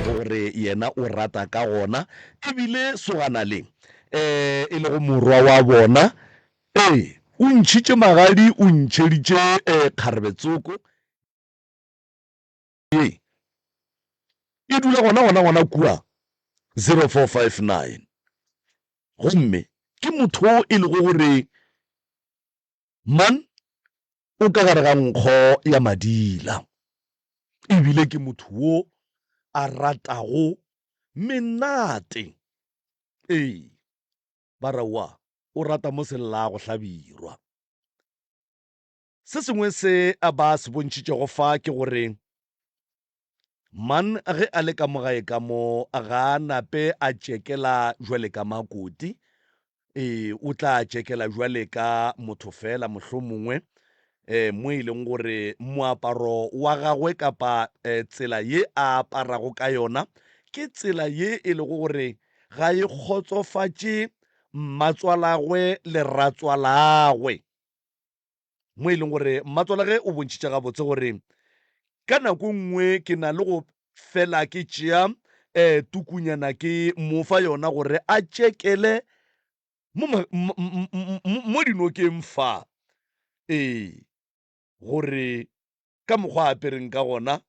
gore yena o rata ka gona ebile sogana le um e lego morwa wa bona ee o ntšhitše magadi o ntšheditše um eh, kgarebetsoko ye e dula gona gona gona kua 0459 gomme ke motho e lego gore Man o ka gare ga nkgo ya madila, e bile ke motho wo a ratago menate. Ee, ba re wa o rata mo sellago hlabirwa. Se sengwe se ba se bontšhitšego fa ke gore Man ge a le ka mo gae ka mo, ga a nape a tšekela jwale ka makoti. Ee, o tla tšekela jwale ka motho fela mohlomongwe eh, mo e leng gore moaparo wa gagwe kapa eh, tsela ye a aparago ka yona ke tsela ye e lego gore ga e kgotsofatše mmatswalagwe le ratswalagwe. mo e leng gore mmatswalage o bontšhitše gabotse gore ka nako nngwe ke na le go fela ke tšea um eh, tukunyana ke mo fa yona gore a tšekele mo dinokeng fa ee gore ka mokgwa a apereng ka gona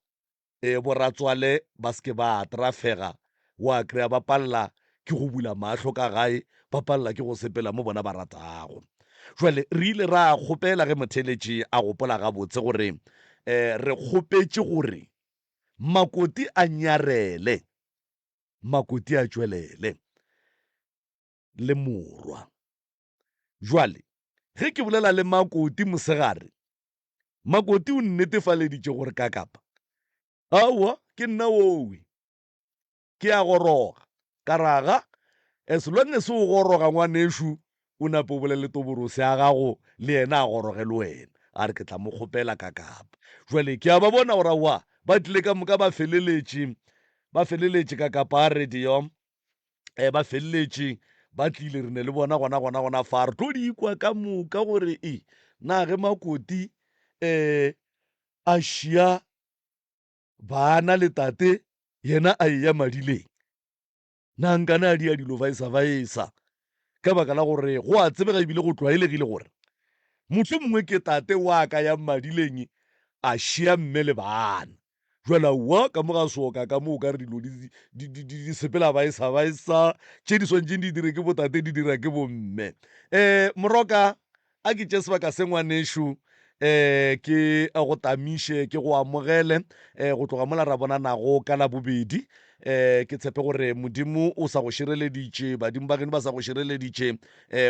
e boratswale ba se ke ba atrafega wa kry-a ba palela ke go bula mahlo ka gae ba palela ke go sepela mo bona ba ratago jwale re ile ra kgopela ge motheletši a gopola gabotse gore um re kgopetše gore makoti a nyarele makoti a tšwelele le morwa Bjale, ge ke bolela le Makoti mosegare, Makoti o nnetefaleditše gore kakapa. Aowa, ke nna wowe. Ke a goroga. Ka ra, Ga, as long as o goroga, ngwanešu, o nape o bolele toborose ya gago, le yena a goroge le wena. A re, Ke tla mo kgopela kakapa. Bjale, ke a ba bona gore, aowa, ba tlile ka moka ba feleletše, ba feleletše kakapa a radio, um ba feleletše ba tlile re ne le bona gona gona gona fa re tlo di ikwa ka moka gore e na ge makoti um a šia bana le tate yena a eya madileng na nkane a di ya dilo vaesa vaesa ka baka la gore go a tsebega ebile go tlwaelegile gore motlho mongwe ke tate wa ka ya madileng a šia mme le bana Jwale aowa, ka mo ga soka ka mo o ka re dilo di, di, di, di, di sepela baesa baesa, tše di swantšeng di dire ke botate di dira ke bomme. Um moroka a ke tše sebaka se ngwanešo, um ke go tamiše ke go amogele um go tloga mola ra bonanago ka labobedi, um ke tshepe gore modimo o sa go šireleditše badimo ba geno ba sa go šireleditše um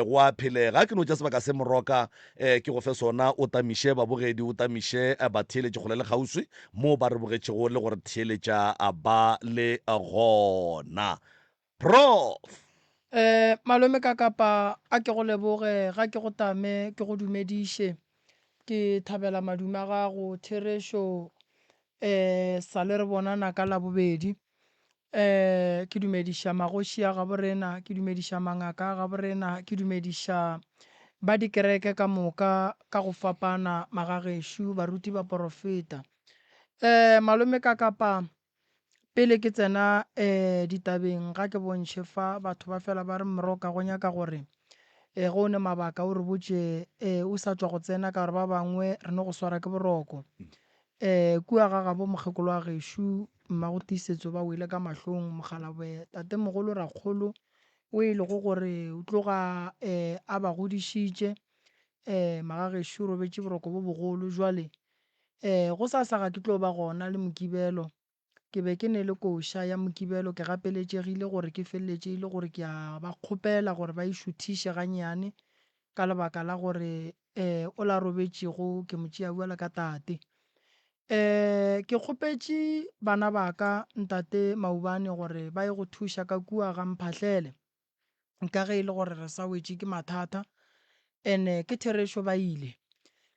go a phelega ke no tša sebaka se moroka um ke go fe sona o tamiše babogedi o tamiše eh, batheeletše kgole le kgauswi moo ba re bogetšego le gore theeletša ah, ba le ah, gona prof um malome ka kapa a ke go leboge ga ke go tame ke go dumediše ke thabela madume a gago therešo E sa le re bonana ka Labobedi, ke dumediša magoši a gabo rena, ke dumediša mangaka a gabo rena, ke dumediša ba dikereke ka moka ka go fapana, magagešo, baruti ba porofeta. E malome ka kapa, pele ke tsena e ditabeng, ga ke bontšhe fa, batho ba fela ba re, Mroka, go nyaka gore e ge o ne mabaka o re botše e o sa tšwa go tsena, ka gore ba bangwe re no go swara ke boroko. Ee, kua ga gabo mokgekolo wa gešo, Mmago Tiisetso ba wele ka mahlong, mokgalabwe, tatemogolo Rakgolo, o e lego gore o tloga ee a ba godišitše. Ee, magagešo o robetše boroko bo bogolo. Bjale ee go sa sa ga ke tlo ba gona le Mokibelo. Ke be ke ne le koša ya Mokibelo, ke gapeletšegile gore ke feleletše e le gore ke a ba kgopela gore ba e šuthiše gannyane ka lebaka la gore um o la robetšego ke mo tšea bjalo ka tate. Um ke kgopetše bana ba ka, Ntate Maubane gore ba ye go thuša ka kua ga Mphahlele. ka ge e le gore re sa wetše ke mathata and-e ke therešo ba ile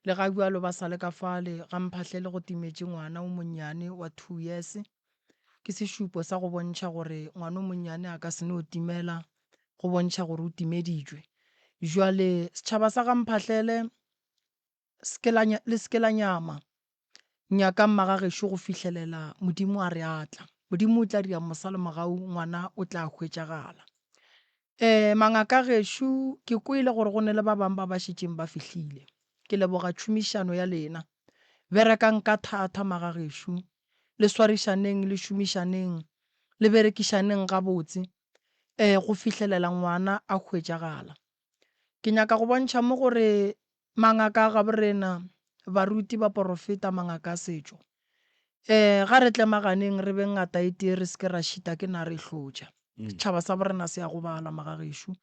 le ga bjalo ba sa le ka fale ga mphahlele go timetše ngwana o monnyane wa two years ke sešupo sa go bontšha gore ngwana o monnyane a ka se no timela go bontšha gore o timeditšwe jwale setšhaba sa ga mphahlele le se ke la nyama. Nyakang Magagešo go fihlelela Modimo a re a tla. Modimo o tla dira mosalemogau, Ngwana o tla hwetšagala. Ee, mangaka a gešo, ke kwele gore go ne le ba bang ba ba šetšeng ba fihlile. Ke leboga tšhomišano ya lena. Berekang ka thata, magagešo. Le swarišaneng, le šomišaneng, le berekišaneng gabotse, ee, go fihlelela Ngwana a hwetšagala. Ke nyaka go bontšha mo gore Mangaka a gaborena, baruti, baporofeta, mangaka a setšo. Ee, ga re tlemaganeng re be ngata e tee re se ke ra šita ke nare e hlotša. Setšhaba sa borena se a gobala, magagešo.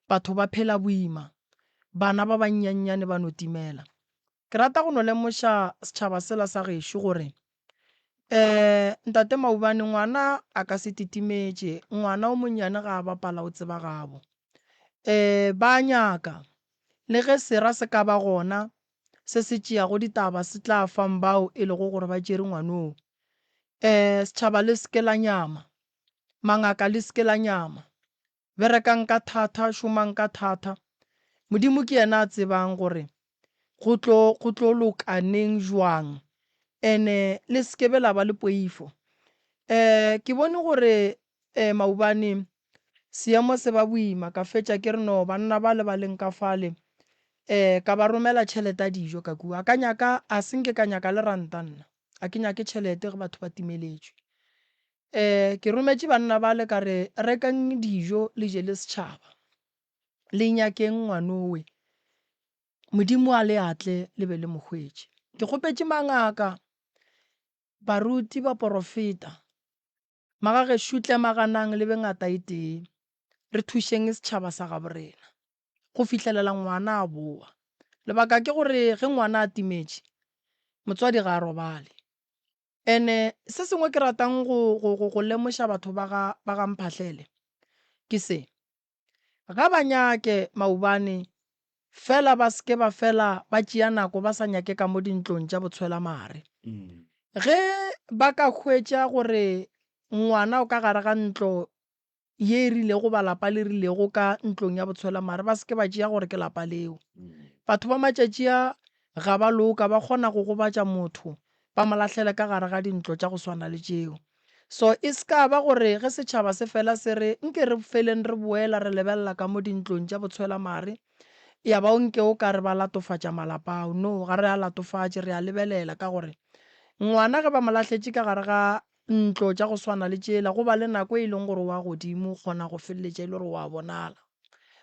Batho ba phela boima. Bana ba bannyannyane ba no timela. Ke rata go no lemoša setšhaba sela sa gešo gore Eh, Ntate Maubane, ngwana a ka se titimetše, ngwana o monnyane ga a bapala o tseba gabo. Eh, ba a nyaka. Le ge sera se ka ba gona se se tšeago ditaba se tla fang bao e lego gore ba tšere ngwanoo. Eh, setšhaba le se ke la nyama. Mangaka le se ke la nyama. berekang ka thata, šomang ka thata. Modimo ke yena a tsebang gore go tlo, go tlo loka neng, bjang. And-e le se ke be la ba le poifo. Um ke bone gore um maobane seemo se ba boima, ka fetša ke re no, banna bale ba leng ka fale, um ka ba romela tšhelete ya dijo ka kua. Ka nyaka, a se nke ka nyaka le ranta nna. A ke nyake tšhelete ge batho ba timeletšwe. Ee, ke rometše banna bale ka re, Rekang dijo le je le setšhaba. Le nyakeng ngwanowe. Modimo a le atle le be le mo hwetše. Ke kgopetše mangaka, baruti, baporofeta, magagešo tle maganang le be ngata e tee, re thušeng setšhaba sa gabo rena go fihlelela ngwana a bowa. Lebaka ke gore ge ngwana a timetše, motswadi ga a robale. Ene se sengwe ke ratang go, go, go, go lemoša batho ba ga, ba ga Mphahlele ke se, ga ba nyake maubane fela ba seke ba fela ba tšea nako ba sa nyake ka mo dintlong tša botshwelamare. Ge ba ka hwetša gore ngwana o ka gare ga ntlo ye e rilego ba lapa le rilego ka ntlong ya botshwela mare ba seke ba tšea gore ke lapa leo batho ba matšatši a ga ba loka ba kgona go gobatša motho ba mo lahlele ka gare ga dintlo tša go swana le tšeo so e se ka ba gore ge setšhaba se fela se re nke re feleng re boela re lebelela ka mo dintlong tša botshwela mare ya ba o nke o ka re ba latofatša malapa ao no ga re a latofatše re a lebelela ka gore ngwana ge ba mo lahletše ka gare ga Ntlo tša go swana le tšela, go ba le nako e e leng gore o wa godimo, o kgona go feleletša e le gore o a bonala.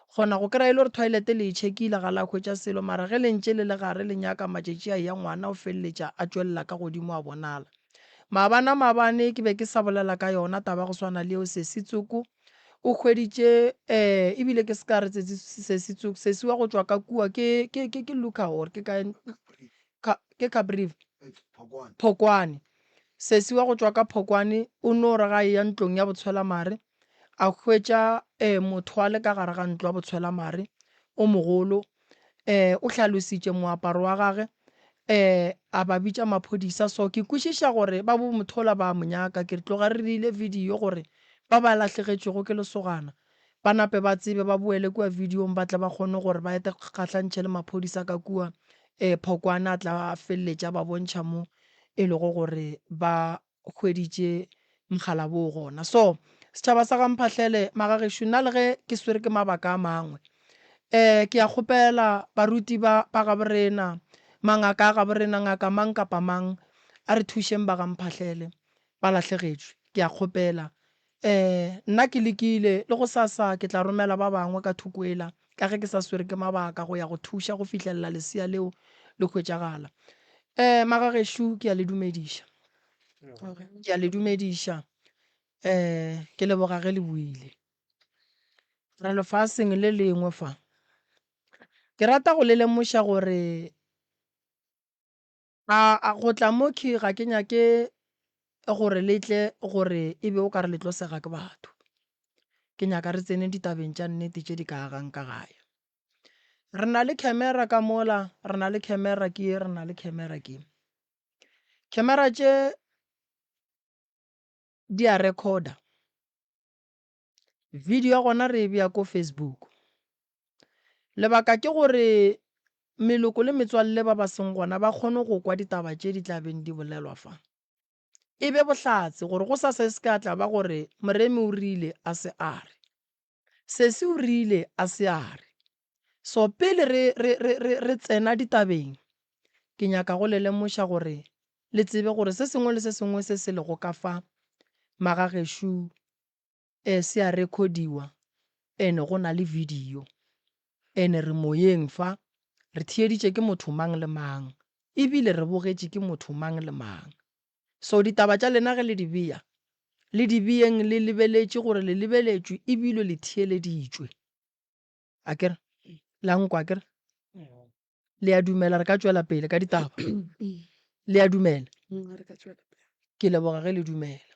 O kgona go kry-a e le gore toilet le e check-ile ga la hwetša selo, mara ge le ntše le le gare le nyaka matšatši a eya, ngwana o feleletša a tšwelela ka godimo a bonala. Maabane a maabane ke be ke sa bolela ka yona taba ya go swana le eo. Sesi Tsoko o hweditše um ebile ke se ka re Sesi Tsoko, Sesi wa go tšwa ka kua ke Luka or ke kae, ke Caprivi? Phokwane. Sesi wa go tšwa ka Phokwane o no re ga eya ntlong ya botshwelamare, a hwetša um motho wa le ka gare ga ntlo ya botshwelamare o mogolo. Um o hlalositše moaparo wa gage, um a ba bitša maphodisa. So ke kwešiša gore ba bo mothola ba a mo nyaka. Ke re tloga re dirile video gore ba ba lahlegetšwego ke lesogana Ba nape ba tsebe, ba boele kua videong ba tle ba kgone gore ba ete kgahlantšhe le maphodisa ka kua eh, Phokwane a tla a feleletša ba bontšha mo e lego gore ba hweditše mogala boo gona. So, setšhaba sa ga Mphahlele, magagešo nna le ge ke swere ke mabaka a mangwe eh, ke a kgopela baruti ba ba gabo rena, mangaka a gabo rena, ngaka mang kapa mang, a re thušeng ba ga Mphahlele, ba lahlegetšwe, ke a kgopela Ee, nna ke lekile, le gosasa ke tla romela ba bangwe ka thoko ela, ka ge ke sa swere ke mabaka go ya go thuša go fihlelela lesea leo le hwetšagala. Ee, magagešo, ke a le dumediša. Ke a le dumediša. Ee, ke leboga ge le buile. Re lefaseng le lengwe fa. Ke rata go le lemoša gore A, a, go tla mo khy ga ke nyake gore le tle gore e be o ka re le tlo sega ke batho. Ke nyaka re tsene ditabeng tša nnete tše di ka agang ka gae. Re na le camera ka mola, re na le camera ke ye, re na le camera ke ye. Camera tše di a recorder. Video ya gona re e bea ko Facebook. Lebaka ke gore meloko le metswalle ba ba seng gona ba kgone go kwa ditaba tše di tla beng di bolelwa fa. E be bohlatse gore go sa sa e se ka tla ba gore Moremi o rile a se a re, Sesi o rile a se a re. So pele re, re, re, re, re tsena ditabeng, ke nyaka go le lemoša gore le tsebe gore se sengwe le se sengwe se se lego ka fa magagešo e se a rekhodiwa ene go na le video ene re moyeng fa re theeditše ke motho mang le mang e bile re bogetše ke motho mang le mang so ditaba tša lena ge le di beya le di beyeng le lebeletše gore le lebeletšwe e bile le theeleditšwe. a kere la nkwa kere le a dumela re ka tswela pele ka ditaba le a dumela ke leboga ge le dumela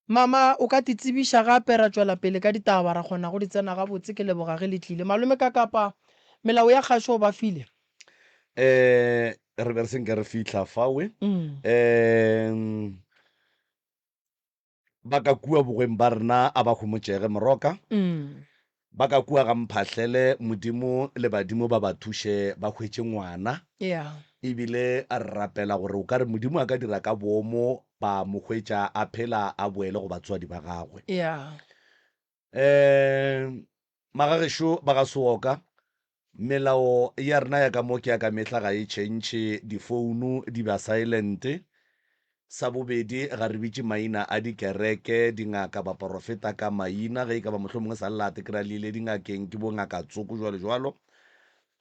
mama o ka ti tsebiša gape ra tswela pele ka ditaba ra kgona go di tsena gabotse ke leboga ge le tlile malome ka kapa melao ya kgašo o ba file um re be re senke re fitlha fawe um Ba ka kua bogweng ba rena a ba homotšege, moroka. Ba ka kua ga mphahlele, Modimo le badimo ba ba thuše ba hwetše ngwana. E bile a re rapela gore o ka re Modimo a ka dira ka boomo ba mo hwetša a phela a boele go batswadi ba gagwe. Um Magagešo ba ga Sewoka, melao ya rena ya ka mo ke ya ka mehla ga e tšhentšhe, difounu di ba silent. Sa bobedi, ga re bitše maina a dikereke, dingaka, baporofeta ka maina. Ge e ka ba mohlomongwe sa lelate ke ra le ile dingakeng, ke bo ngaka tsoko, jwalo jwalo.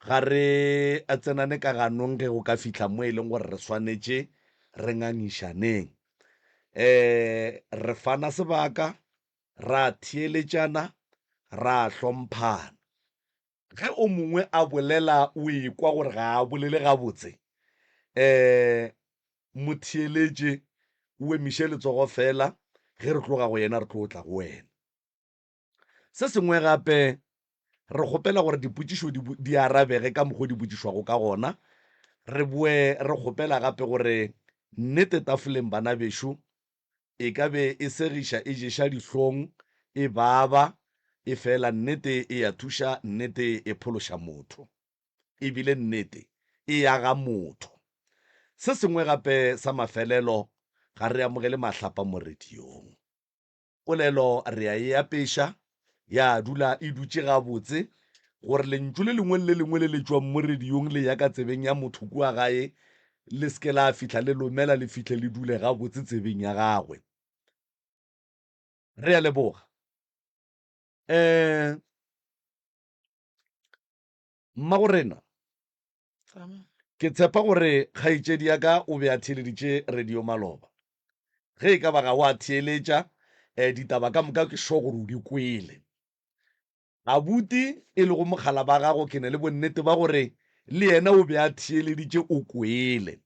Ga re tsenane ka ganong ge go ka fihla mo e leng gore re swanetše re ngangišaneng. Um re fana sebaka, ra theeletšana, ra hlomphana. Ge o mongwe a bolela o ekwa gore ga a bolele gabotse, um mo theeletše, o emiše letsogo feela, ge re tloga go yena re tlo tla go wena. Se sengwe gape, re kgopela gore dipotšišo di, di arabege ka mokgwa o di botšišwago ka gona. Re boe re kgopela gape gore nnete tafoleng, bana bešo, e ka be e segiša, e ješa dihlong, e baba, efela nnete e a thuša, nnete e phološa motho. E bile nnete e aga motho. Se sengwe gape sa mafelelo, ga re amogele mahlapa mo radiong. Polelo re a e apeša, ya dula e dutše gabotse, gore lentšu le lengwe le le lengwe le le tšwang mo rediong le ya ka tsebeng ya motho kua gae le se ke la fihla le lomela, le fihle le dule gabotse tsebeng ya gagwe. Re a leboga. Um Mmagorena, ke tshepa gore kgaetšedi ya ka o be a theeleditše radio maloba. Ge e ka ba ga o a theeletša, eh, ditaba ka moka ke sure gore o di kwele. Abuti, e lego mogala ba gago, ke na le bonnete ba gore le yena o be a theeleditše, o kwele.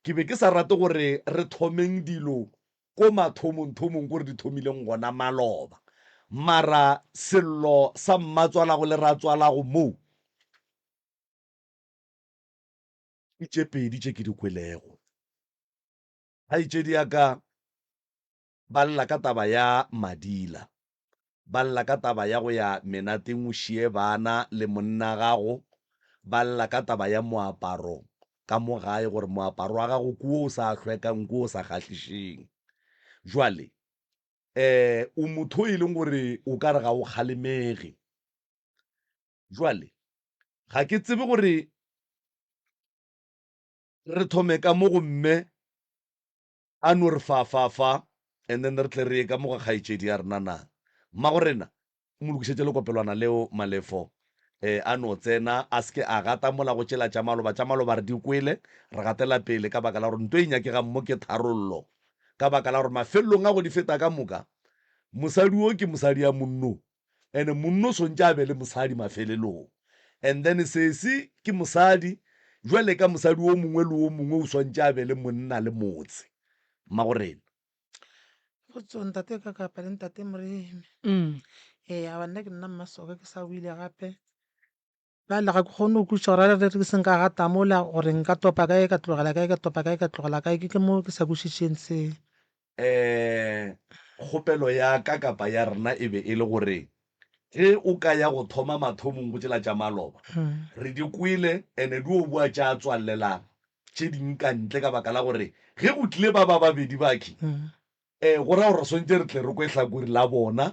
Ke be ke sa rate gore re thomeng dilo ko mathomongthomong ko re di thomileng gona maloba. Mara sello sa mmatswalago le ratswalago moo ke tše pedi tše ke di kwelego. Kgaetšedi ya ka ba lla ka taba ya Madila. ba lla ka taba ya go ya menateng o šiye bana le monna gago, ba lla ka taba ya moaparo ka mo gae gore moaparo wa gago ke wo o sa hlwekang, ke wo o sa kgahlišeng. Jwale um o motho o e leng gore o ka re ga o kgalemege. Jwale ga ke tsebe gore re thome ka mo go mme A no re fa, fa, fa, and then re tle re ye ka mo ga kgaetšedi ya rena na? Mmagorena, mo lokišetše lekopelwana leo, Malefo. E, a no tsena, a se ke a gata mola go tšela tša maloba. Tša maloba re di kwele, re gatela pele, ka baka la gore nto e nyakegang mo ke tharollo. Ka baka la gore mafelelong a go di feta ka moka, mosadi wo ke mosadi ya monno, and monna o swantše a be le mosadi mafelelong and then sesi ke mosadi jwale ka mosadi o mongwe le o mongwe o swantše a be le monna le motse mmagorena. Potso, Ntate ka kapa le Ntate Moremi? Ee, aba nna ke nna Mmasoka ke sa o ile gape. Bjale ga ke kgone go kweša gore a re ke se nka gata mola, gore nka topa kae ka tlogela kae, ka topa kae ka tlogela kae, ke ke mo ke sa kwešišeng se. Ee, kgopelo ya ka kapa ya rena e be e le gore ge o ka ya go thoma mathomong go tšela tša maloba. Re di kwele and-e di o boa tša tswalelang tše ding ka ntle ka baka la gore ge go tlile ba ba babedi bakhwi E, go ra gore re swantse re tle re kwe hlakori la bona,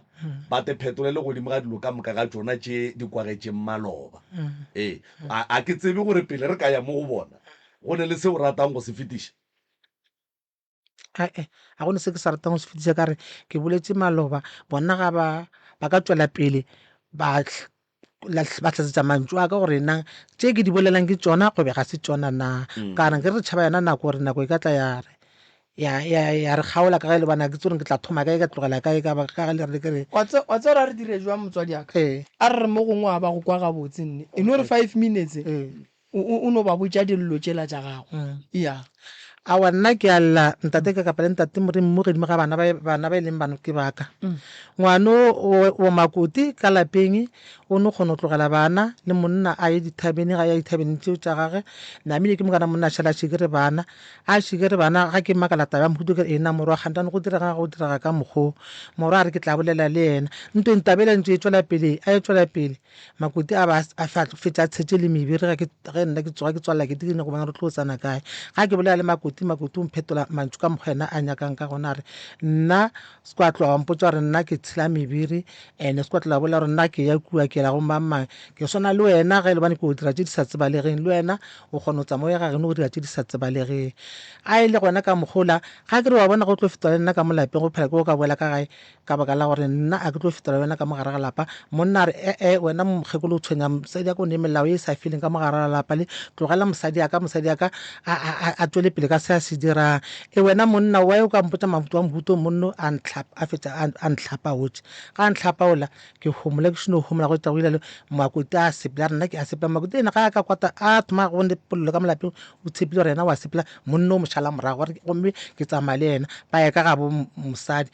ba te phetolele godimo ga dilo ka moka ga tšona tše di kwagetšeng maloba. E, a, a ke tsebe gore pele re ka ya mo go bona, go ne le se o ratang go se fetiša. A-e, a go ne se ke sa ratang go se fetiša, ka re, ke boletše maloba, bona ga ba, ba ka tšwela pele ba batlasetsa mantšu a ka gore na tše ke di bolelang ke tsona gobe ga se tsona na mm. kana ke re tšhaba yona nako gore nako e ka tla ya re ya ya ya re kgaola ka ge le bana ke tsore ke tla thoma kae ka tlogela kae ka ka le re ke re wa tse wa tse ra re dire jwa motswadi aka ee. a re mo gongwe a ba go kwa ga botse nne e no re 5 minutes ee. O, o, o no ba botša dillo tšela tša gago. Ya. Aowa, nna ke a lla, Ntate, ke kapa le Ntate Morimo godimo ga bana ba, bana ba e leng bano ke ba ka. Ngwano o, o makoti ka lapeng, o no kgona go tlogela bana, le monna a ye dithabeneng, a ya dithabeneng tšeo tša gage. Namile ke mokana monna a šala a šikere bana. A šikere bana, ga ke makala taba ya mohuto, ke re, Eena, morwa, kgantano go direga go direga ka mokg'o. Morwa a re, Ke tla bolela le yena. Ntweng taba yela e ntše e tšwela pele, a e tšwela pele. Makoti a ba a fa tlo fetša tshetše le mebiri ga ke ge nna ke tsoga ke tswalela ke dikene go bona re tlo tsana kae ga ke bolela le makoti makoti o mphetola mantšu ka mokgwa ena a nyakang ka gona re nna se kwa tloga wa mpotsa gore nna ke tshela mebiri ene se kwa tloga bolela gore nna ke ya kua ke la go mang mang ke swana le wena ge e le bane ke o dira tše di sa tsebalegeng le wena o kgona go tsamaya ga geno go dira tše di sa tsebalegeng a e le gona ka mokgola ga ke re wa bona go tlo fetola le nna ka mo lapeng go phela ke go ka boela ka gae ka baka la gore nna a ke tlo fetela wena ka mogare ga lapa monna a re ee wena mokgekolo o tshwenya mosadi aka o ne melao e sa feleng ka mogare ga lapa le tlogela mosadi aka mosadi aka a tswele pele ka se a se dirang e wena monna wa o ka mpotsa mabuto wa mobuto monno a ntlhapa a fetsa a ntlhapa otse ga a ntlhapa ola ke homola ke seno homola go tsa go ilalo makoti a sepela nna ke a sepela makoti ene ga a ka kwata a thoma go ne polelo ka molapeng o tshepile gore yena wa sepela monna o mošala morago gore gomme ke tsamaya le yena ba ya ka ga bo mosadi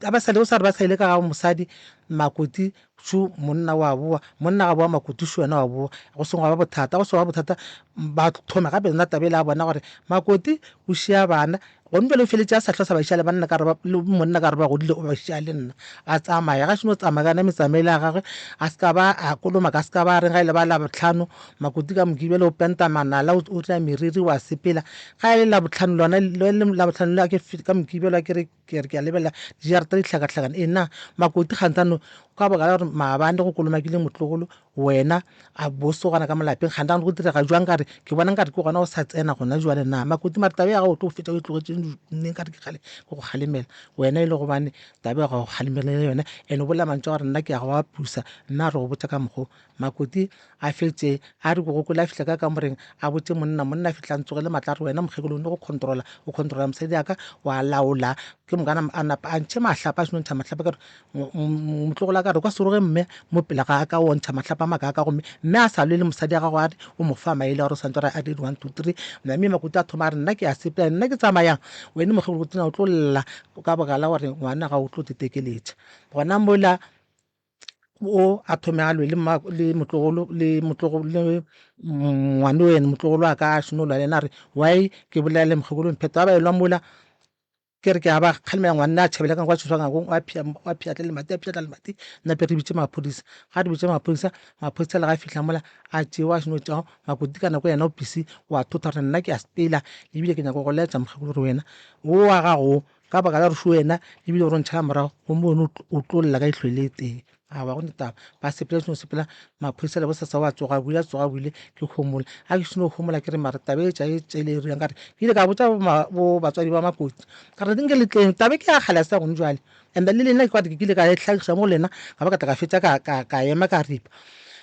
ga ba sale o sa re ba sa ile ka ga mosadi makoti šo monna wa bowa monna ga bowa makoti šo wena wa bowa go sengwe ga ba bothata go sengwe ga bothata ba thome gape yona tabele a bona gore makoti o šia bana Gomme bjale o feletše a sa hlosa bašale ba nna ka re le monna ka re ba godile o ba šea le nna a tsamaya ga šeno tsamaya ka yona metsamaele ya gagwe a se ka ba a koloma ka se ka ba reng ga e le ba la botlhano makoti ka moke bjale o penta manala o tla meriri wa sepela ga e le la botlhano lona le la botlhano le ke ka moke bjale ke re ke re ke a lebela dijarata di hlakahlakana ena makoti kgantano ka baka la gore maabane go kolomakile motlogolo Wena, a boso gona ka molapeng ga nagane go direga jwang ka re ke bona nkare ke gona o sa tsena gona jwale na makoti mare taba ya gago o tlo go fetša o e tlogetše nne nkare ke kgale ke go kgalemela wena e le gobane taba ya gago kgalemelele yone and o bolela mantšu a gore nna ke ya go a pusa nna a re go botša ka mokgo makoti a fetše a re bogokole a fihla ka kamoreng a botše monna monna a fihla a ntsogele matla a re wena mokgekolo o ne go controla o controla mosadi yaka wa laola ke mokana a napa a ntšhe mahlapa a senontšha mahlapa ka re motlogola ka re kwa seroge mme mo pele ga ka o ntšha matlhapa maka ka gomme mme a sa lwe le mosadi ya gago a re o mo fa maele a gore santore a dire one two three mme makuta a thoma a re nna ke a sepela nna ke tsamayang wene mokgolo go tsena o tlo lla ka bogala gore ngwana ga o tlo tetekeletša gona mola o a thome a lwe le motlogolo le motlogolo le ngwane wene motlogolo a ka a šeno lwa le ena a re why ke bolela le mokgekolo mphetho ba ba elwa mola Ke re ke a ba kgalemela ngwanna a tšhabela ka kwa tšhoswangakong wa phia wa phiatla le mati a phiatla le mati nna pe re bitše maphodisa ga re bitše maphodisa maphodisa le ga fihla mola a tšee wa seno tšago makoti ka nako yena o pisi wa thotha gore nna ke a sepela ebile ke nyaka go laetša mokgekolo gore wena o wa gago ka baka la gore se wena ebile o re ntšhala morago gomme wena o tlo lla ka ihlwele e tee a ba go ne taba ba sepela seno sepela maphodisa le bosasa wa tsoga buile a tsoga buile ke homola a ke seno homola ke re mara taba e tša e tšele e riang ka re ke ile ka botsa bo batswadi ba makoti ka re nke le tleng taba ke ya kgale sa gone jwale and le lena ke kwate ke kile ka e tlhagiša mo lena ka ba ka tla ka fetša ka ka ka ema ka ripa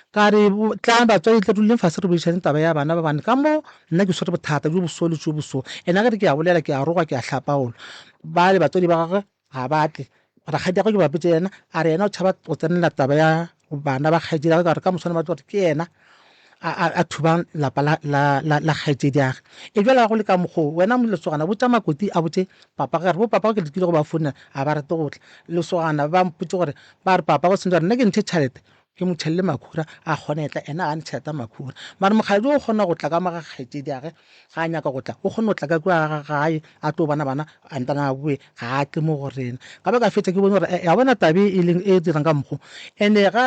ka re tlang batswadi tle duleng fase re boišane taba ya bana ba bane ka mo nna ke swere bothata jo boso le jo boso ena ke re ke ya bolela ke ya roga ke ya hlapaola ba le batswadi ba gagwe Ga ba tle. Rakgadi ya gagwe ke ba botše yena, a re yena o tšhaba go tsenela taba ya bana ba kgaetšedi ya gagwe ka gore ka moswane ba tlo gore ke yena a thubang lapa la kgaetšedi ya gage. E bjale ga go le ka mokgwa o, wena lesogana botša Makoti a botše papa wa gagwe, a re bo papa wa gagwe ke lekile go ba founela ga ba rate go tla. Lesogana ba mpotše gore ba re papa wa gagwe o sentše gore nna ke ntshe tšhelete ke mo tšhelele makhura a kgone etla ena ga ne tšheleta makhura mare mokgadi o kgona go tla ka mo ga kgaetšedi age ga a nyaka go tla o kgone go tla ka kua ga gae a tlo bona bana a ntana a boe ga a tle mo go rena ka ba ka fetša ke bone gore ya bona tabe e leng e dirang ka mokgo ene ga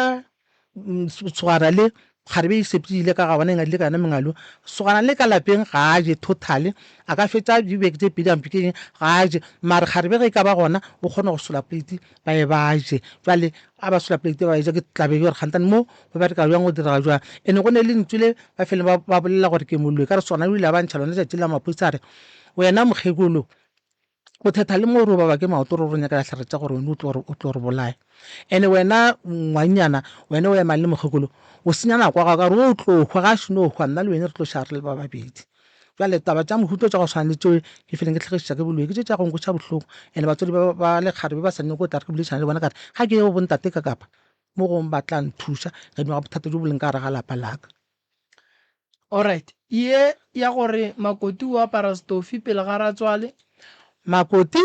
tshogana le kgare be e sepedile ka ga bona e ngadile ka yona mengalo tshogana le ka lapeng ga a je totally a ka fetša dibeke tse pedi ampe ke eng ga a je mare kgare be ge e ka ba gona o kgona go sola plate ba ye ba je jwale a ba sola plate ba e ja ke tla be gore gantane mo go bereka jwang go dira jwang ene go ne le lentswe le ba fele ba bolela gore ke moloi ka re sona o ile a ba ntšha lone tšatši la maphodisa a re wena mokgekolo o thetha le mo gore o baba ke maoto re re nyakela tlhare tša gore wena o tlo re bolaya ene wena ngwannyana wena o emang le mokgekolo o senya nako ya gago ka gore o tlo hwa ga a šeno hwa nna le wena re tlo šara re le ba babedi Bjale taba tša mohuta tša go swana le tšeo ke fileng ke tlhagišiša ke boloi ke tše tša go nkweša bohloko ene batswadi ba ba le kgare be ba sa nyoko go tla re ke boledišane le bona ka re ga ke ye go bontate ka kapa mo gongwe ba tla nthuša gadima ga bothata jo bo leng ka gare ga lapa laka Alright, ye ya gore Makoti o apara stofi pele ga ratswale. Makoti,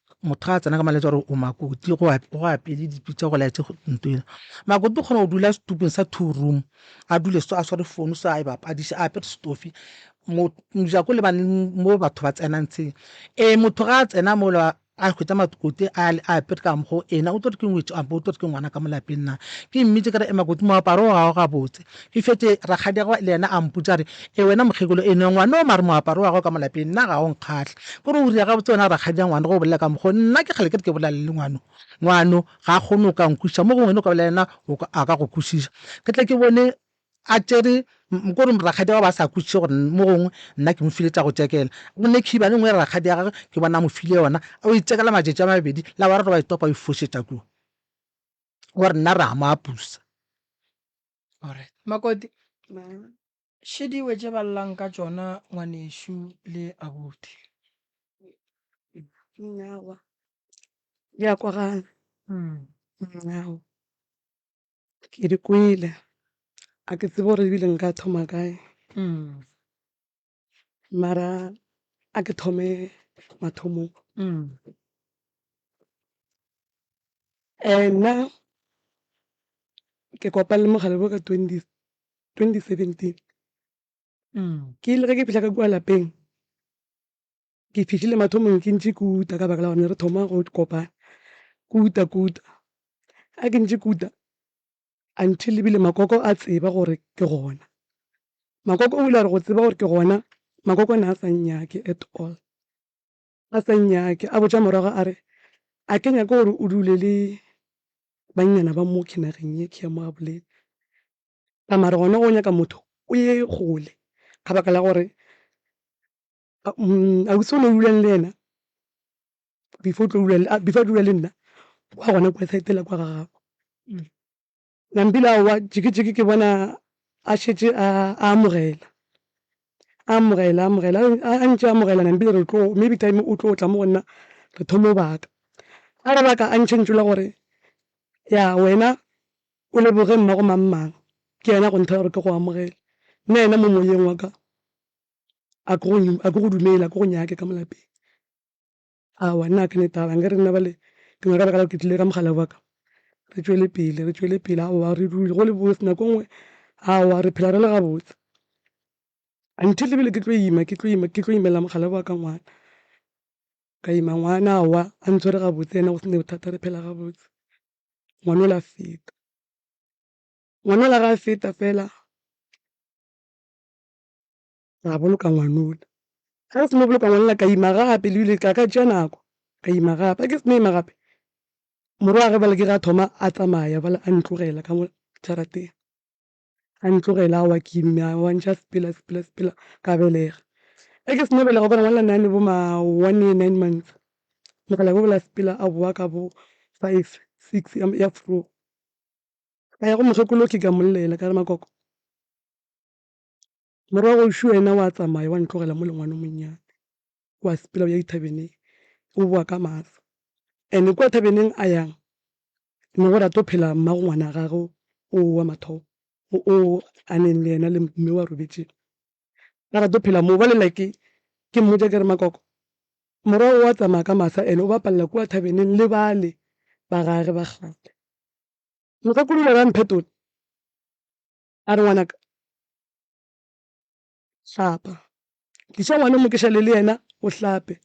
motho ga a tsena ka maletsa gore o makoti go apele dipi tsa go laetse nto ena makoti o kgona go dula setupong sa two room a dule so a sware founu so a e bapadise a apere stofi mojako le bane mo batho ba tsenang tsheng ee motho ga a tsena mola a hwetsa makoti a apere ka mokgwa ena o tlo re ke ngwetso ampo o tlo re ke ngwana ka mo lapeng na ke mmitse ka re makoti moaparo o gago gabotse E fetše rakgadiagwe le yena a mpotša a re, E wena mokgekolo e no ngwano mare moaparo wa gago ka mo lapeng nna ga o nkgahle. Ke re o ria gabotse wena rakgadi'a ngwano ge o bolela ka mokgwa wo? Nna ke kgale ke re ke bolelane le ngwano. Ngwano ga a kgone go ka nkwešiša mo gongwe wena o ka bolela le yena a ka go kwešiša. Ke tle ke bone a tšere ke gore rakgadiagwe a ba a sa kwešiše gore mo gongwe nna ke mo file tša go tšekela. Go ne khiba e nngwe ya rakgadiagwe ke bona a mo file yona a yo e tšekela matšatši a mabedi la boraro ba e topa a e fošetša kua gore nna re a mo apusa. Alright. Makoti, še diwe tše ba llang ka tšona ngwanešu le abuti. Nyawa. Di a kwagala. Mm. Nyawa. Ke di kwele. A ke tsebe gore ebile nka thoma kae. Mm. Mara a ke thome mathomong. Nna ke kopane le mogare wo ka twenty seventeen. Ke ile ge ke fihla ka kua lapeng, ke fihlile mathomong ke ntše ke uta ka baka la gore ne re thoma go kopana, ke uta ke uta. Ge ke ntše ke uta, Until ebile Makoko a tseba gore ke gona. Makoko o ile a re go tseba gore ke gona, Makoko ne a sa nnyake at all. A sa nnyake, a botša morwaga a re, a ke nyake gore o dule le bannyana ba mo kinageng ye ke ya mo Gaboleni. Ka mare gona go nyaka motho o ye kgole, ka baka la gore Ausi o ne a dula le yena before a dula le nna wa gona kwa side la kwa ga gabo. Nampila aowa jikijiki ke bona a šetše a amogela, a amogela, a amogela, a ntše a amogela Nampila re tlo maybe time o tlo tla mo go nna re thome go baka. A re baka a ntšhentšhola gore ya wena o leboge mmago mang mang ke yena go nthera gore ke go amogele, nna yena mo moyeng wa ka a ke go dumele a ke go nyake ka molapeng awa nna a ke ne taba nke re nna bale ke nyaka baka la ke tlile ka mogala wa ka re tšwele pele re tšwele pele awa re dule go le botse nako nngwe awa re phela re le gabotse until ebile ke tlo ima ke tlo ima ke tlo imela mogala wa ka ngwana ka ima ngwana awa a ntshwere gabotse ena go sene bothata re phela gabotse ngwana o la feta ngwana o la ga feta fela ra boloka ngwanola ga re seno boloka ngwanola ka ima gape le bile ka ka tšea nako ka ima gape a ke seno ima gape morwa ge bale ke ga thoma a tsamaya bale a ntlogela ka mo jarateng a ntlogela a wa ke imme a wantšha sepela sepela sepela ka belega a ke seno belega gobane ngwanola nane bo ma one year nine months mogala bo bola sepela a boa ka bo five six ya four ka ya go mokgekolo ke ka mmollela ka re makoko Morago šo yena wa tsamaya wa ntlogela mo lengwano monnyane. Wa sepela o ya dithabeneng, o boa ka maatla. Ene kwa thabeneng a yang, ne go rata go phela mmago ngwana gagwe o wa mathomo, o a neng le yena le mme wa robetšeng. A rata go phela moo. Ba lela ke ke mmotša ke re, Makoko, morago wa tsamaya ka masa ene o bapalela kua thabeneng le bale ba gage ba kgale. Mokgekolo o ile a re, A mphetola. A re, Ngwanaka, hlapa. Tliša ngwana o mo ke šale le yena, o hlape,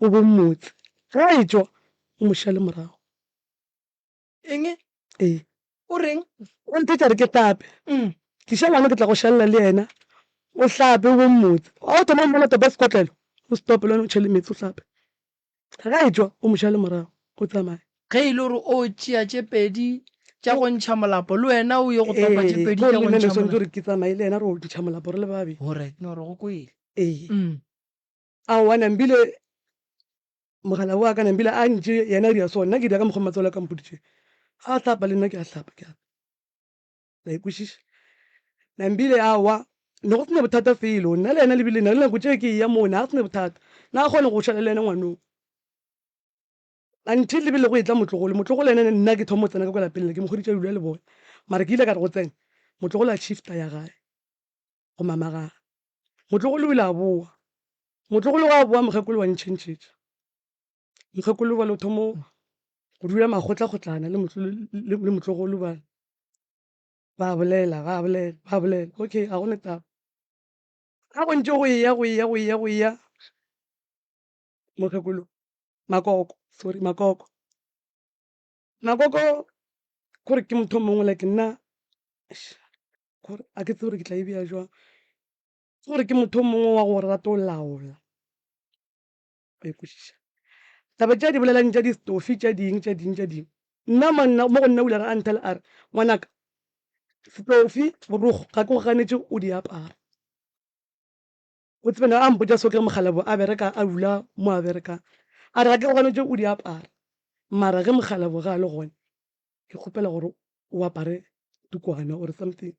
o bo mmotse. Ge a etšwa, o mo šale morago. Eng? Ee. O reng? O nthetša a re ke hlape. Tliša ngwana ke tla go šalela le yena, o hlape, o bo mmotse. Ga o thoma go mmona topa sekotlelo, o se tope le wena, o tšhele meetse, o hlape. Ge a etšwa, o mo šale morago, o tsamaye. Ge e le gore o tšea tše pedi tša go ntšha molapo, le wena o ye go topa tše pedi tša go ntšha molapo. Ee, gomme swanetše gore ke tsamaye le yena re ntšha molapo re le babedi. Go right, no re go kwele. Ee. Aowa, Nambile, mogala wa ka, Nambile a ntše yena a dira so, nna ke dira ka mokgwa matswalo a ka a mpoditšego. A hlapa le nna ke a hlapa, ke a. la ikwešiša na mbile a wa ne go sena bothata felo nna le yena lebile na le nako tšeo ke eya moo ne a sena bothata na a kgone go šala le yena ngwanong until lebile go etla motlogolo motlogolo ene nna ke thomo tsena ka kwa lapeng le ke mokgoditša dula le bone mara ke ile ka re go tsena motlogolo a shifta ya gae go mamagaga motlogolo o ile a boa motlogolo wa boa mokgekolo wa ntšhentšhetša mokgekolo bane o thomo go dula makgotla kgotlana le motlogolo bane ba bolela ba bolela ba bolela okay ga gone taba ga go ntse go eya go eya go eya go eya mokgekolo makoko sorry makoko makoko kore ke motho mongwe like nna kore a ke tsebe gore ke tla e beya jwang ke gore ke motho mongwe wa go rata go laola ba ikwešiša taba tša di bolelang tša distofi tša ding tša ding tša ding nna manna mo go nna o ile a nthela a re ngwanaka stofi borogo ga ke go ganetše o di apara o tsebena a mpotsa so ke mogalabo a bereka a dula mo a berekang a re ga ke go ganetše o di apara mara ge mogalabo ga a le gone ke kgopela gore o apare tukwana or something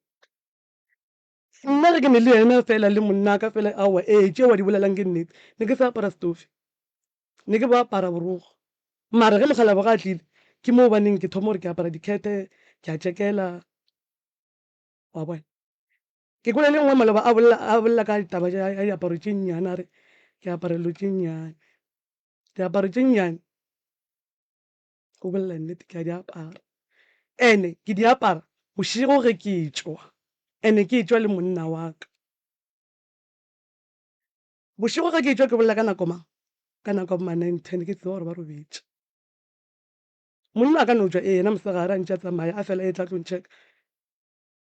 Nna ge ke ne le yena fela le monnaka fela, aowa, ee, tšeo a di bolelang ke nnete. Ne ke sa apara setufi. Ne ke bo apara borokgo. Mara ge mokgalabje ge a tlile, ke moo ba neng ke thoma gore ke apara dikhete, ke a tšekela. Wa bona? Ke kwele le nngwe maloba a bolela, a bolela ka taba ya diaparo tše nnyane, a re ke apara dilo tše nnyane. Diaparo tše nnyane. go bolela nnete ke a di apara ene ke di apara bošego ge ke tšwa ene ke tšwa le monna wa ka bošego ge ke tšwa ke bolela ka nako mang ka nako ma nine ten ke tseba gore ba robetše monna a ka no tšwa ee yena mosegare a ntše a tsamaya a fela e tla tlo ntšheka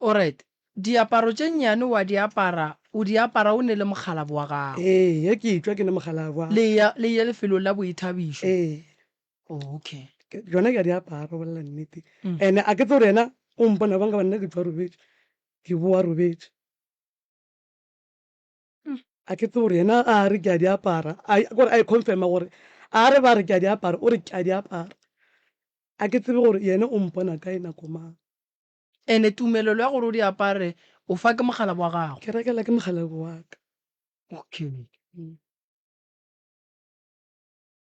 Oryt, Diaparo tše nnyane wa di apara, o di apara o nele mokgalabo wa gago? Ee, ge ke etšwa ke ne mokgalabo wa. Le ya, le ye lefelong la boithabišo? Ee. Oh, okay. Ke, tšona ke a di apara, go bolela nnete. And a ke tsebe gore yena o mpona bjang, ka gobane nna ke tšwa robetše, ke bowa robetše. A ke tsebe gore yena ga a re ke a di apara, a, ke gore a e confirm-a gore a re ba re ke a di apara, o re ke a di apara. A ke tsebe gore yena o mpona kae, nako mang. Ene tumelelo ya gore o di apare o fa ke mogalabo wa gago? Ke rekela ke mogalabo wa ka. Okay. Mm.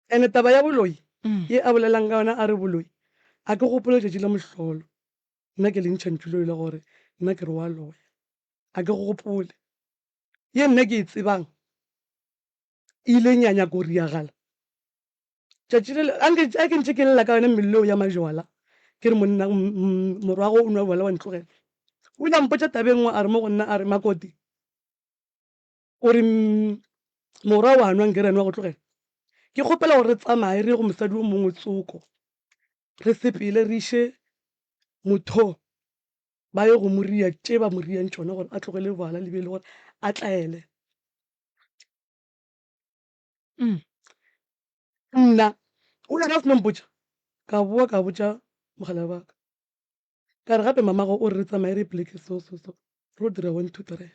Ene taba ya boloi mm. ye a bolelang ka yona a re boloi a ke gopole letšatši la mohlolo nna ke lentšha ntšuloi le gore nna ke re wa loya a ke gopole ye nna ke e tsebang e ileng ya nyaka go riagala tšatši le a ke ntše ke lela ka yone mmeleo ya majwala ke re monna morwago o nwa bjala wa ntlogela o ile a mpotša tabeng ngwe a re mo go nna a re makoti o re morwa wa nwa nkere nwa go tlogela ke kgopela gore re tsamaye re ye go mosadi o mongwe tsoko re sepele re iše motho ba ye go moria tše ba moriang tšona gore a tlogele bjala le be e le gore a tlaele mm. nna o le gafno mpotša ka boa ka botša mogala baka ka re gape mamago o re re tsamaye re pleke so so so ro dira one two three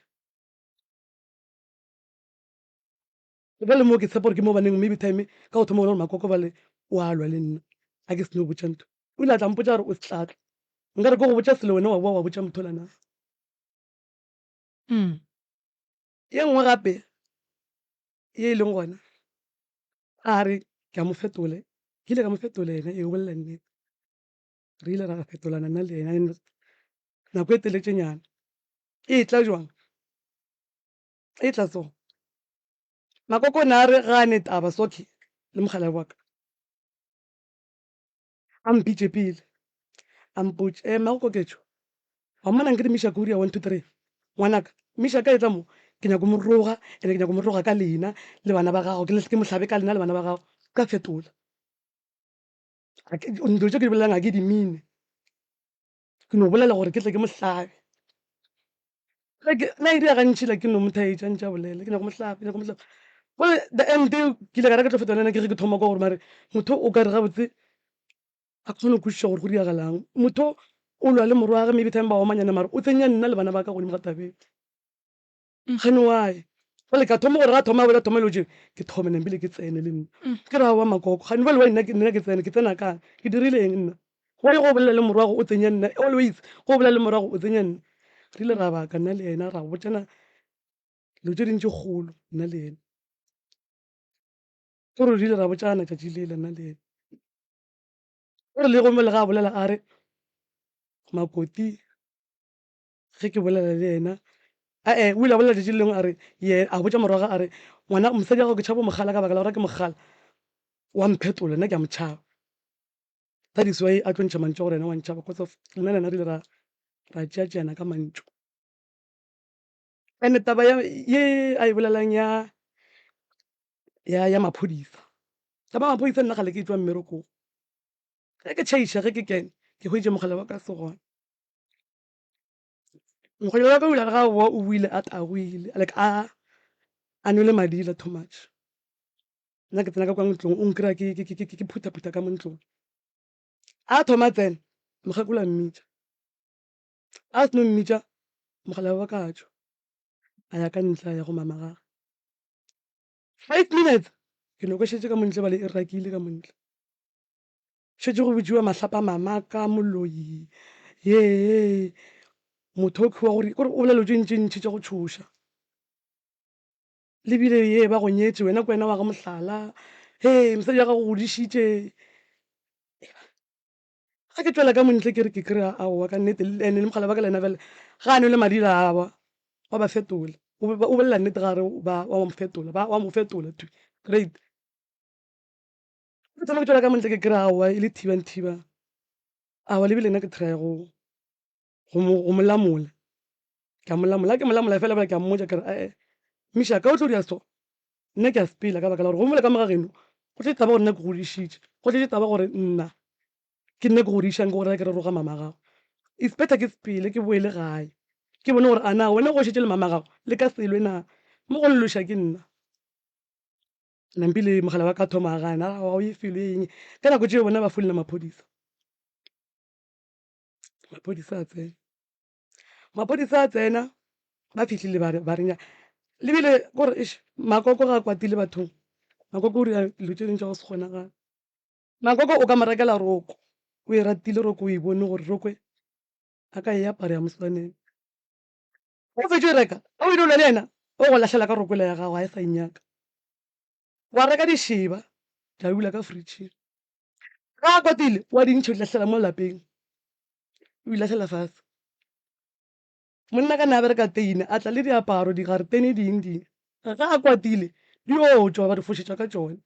ge le moo ke tshepa gore ke mo baneng maybe time ka go thoma gona gore makoko ba le o alwa le nna a ke seno botša ntho o ile a tla mpotša gore o setlatla nka re ke go botša selo wena wa boa wa botša motho lana mm. Ye nngwe gape ye e leng gona, a re ke a mo fetola, ke ile ka mo fetola yena, ee, o bolela nnete. Re ile ra fetolana nna le yena nako e teletšenyana. E tla jwang? E tla so. Makoko o ne a re ga a ne taba, Socky le mokgalabje wa ka. A mpitše pele, a mpotš, Ee, mmago Koketšo? Wa mmona nke di Mishak Uria one two three? Ngwanaka, Mishak a etla mo, ke nyako mo roga, ene ke nyako mo roga ka lena le bana ba gago, ke ke mo hlabe ka lena le bana ba gago, ka fetola. Dilo tše ke di bolelang ga ke di mine. Ke no bolela gore ke tle ke mo hlabe. Na e dira gantši la ke no mo thaetša ntša bolele ke nyako mo hlabe, ke nyako mo hlabe. Gomme the end ke ile ka reka tlo feta le ena ke re ke thoma kwa gore mare motho o ka re gabotse a kgone go kwešiša gore go diragalang. Motho o lwa le morwage maybe time ba omanyana mare o tsenya nna le bana ba ka godimo ga tabeng. Mokganni wa ka. Bjale ka thoma gore ga thoma bjale thoma dilo tše ke thome nna mpile ke tsene le nna. Ke re aowa Makoko kganni bjale wa nna nna ke tsene ke tsena kae ke dirile eng nna go ye go bolela le morwa go o tsenya nna always go o bolela le morwa go o tsenya nna. Re ile ra baka nna le yena ra botšana dilo tše ding tše kgolo nna le yena. Ke gore re ile ra botšana tšatši lela nna le yena. O re le gomme le ga bolela a re Makoti. ge ke bolela le yena ae o ile a bolela tšatši le lengwe a re ye a botša morwaga a re ngwana mosadi wa gago ke tšhabo mogala ka baka la gore ke mogala wa mphetola nna ke a motšhaba that is why a tlo ntšha mantšu gore yena wa ntšhaba because of nna le yena re ile ra ra tšeatšeana ka mantšu and taba ye a e bolelang ya ya ya maphodisa taba ya maphodisa nna gale ke tswa mmerekong ge ke tšhaiša ge ke kene ke hweditše mogala wa ka se gona Mokgonyana wa ka o ile a re ga boa o buile a tagoile, like a a nwele madila too much. Nna ke tsena ka kwa ntlong, o nkry-a ke ke- ke- ke- ke phutha-phutha ka mo ntlong. A thoma a tsena, mokgekolo a mmitša. A seno mmitša, mogala wa ka a tšwa, a ya ka ntle, a ya go mama gagwe. Five minutes, ke nokošetše ka mo ntle ebale e rakile ka mo ntle. šetše go botšiwa mahlapa mama ka moloi yee motho o tlhowa gore kore o bolelelo tše ntši ntši tša go tšhoša lebile ye ba go nyetse wena ko wena wa ga mohlala he mosadi ya gago godišitše ga ke tswela ka montle ke re ke kry-a aowa ka nnete ande le mogala ba ka lena fela ga a ne le madira awa wa ba fetola o bolela nnete ga re wa mo fetola ba wa mo fetola to great ke tsama ke tswela ka montle ke kry awa e le thiba le thiba awa lebile nna ke try go go molamola ke a molamola ke molamola fela bale ke a mmotsa kere ee misha ka o tlo dira so nna ke a sepela ka baka la gore go mola ka moga geno go tletse taba gore nna ke godišitše go tletse taba gore nna ke nna ke godišang ke gore ke re roga mama gago it's better ke sepele ke boele gae ke bone gore ana wena go šetse le mama gago le ka selwe na mo go lelosha ke nna nampi le mogala wa ka thoma a gana a o ye felo eng ka nako tšeo bona ba folela maphodisa maphodisa a tsena maphodisa a tsena ba fitlhile ba renya lebile gore e makoko ga a kwatile bathong makoko o dira dilo tse dingwe tsa go se kgonagala makoko o ka mo rekela roko o e ratile roko o e bone gore roko a ka e apara ya moswaneng Ge o fetše reka, a o ile o lwa le yena, o go lahlela ka rokwela ya gago, ga e sa nyaka. Wa reka dišeba, tša dula ka fritšhing. Ge a kwatile, wa di ntšha, o di lahlela mo lapeng, o di lahlela fase. Monna ka ne a bereka teine, a tla le diaparo, digaretene, ding ding. Ge a kwatile, di yo tšwa, ba di fošetša ka tšone.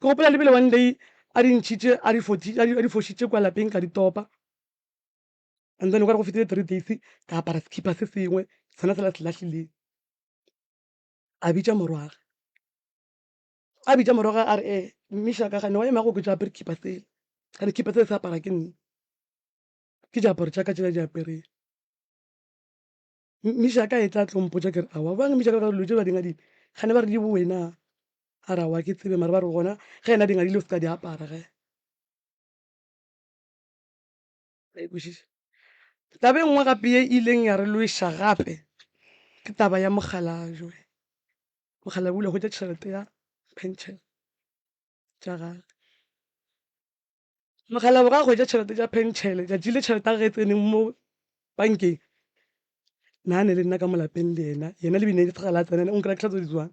Ke gopola le bile one day a di ntšhitše, a di fošitše kua lapeng, ka di topa. and then o kare go fetile three days ka apara sekipa se sengwe sena sela se lahlileng a bitša morwaga a bitša morwaga a re e eh, mmiša ka gane wa emago ke jaapere kipa sele gane kipa sele se apara ke nne ke diaparo tša ka tšela di apereng mmiša ka e tla tlompo ja kere awa bang mmiša ka dilo tše ba dingadile gane ba re di bowena a re awa ke tsebe mare ba re gona ge ena dingadile o se ka di apara ge Ra e kwešiša? Taba e nngwe gape ye e ileng ya re lweša gape ke taba ya mogala Joe. Mogala o ile a hwetša tšhelete ya pension tša gagwe. Mogala o ga hwetša tšhelete tša pension, tšatši le tšhelete ya gage e tseneng mo bankeng, na ne le nna ka molapeng le yena, yena le bine le tsegala a tsena, o nkra ditlhatso di tswang.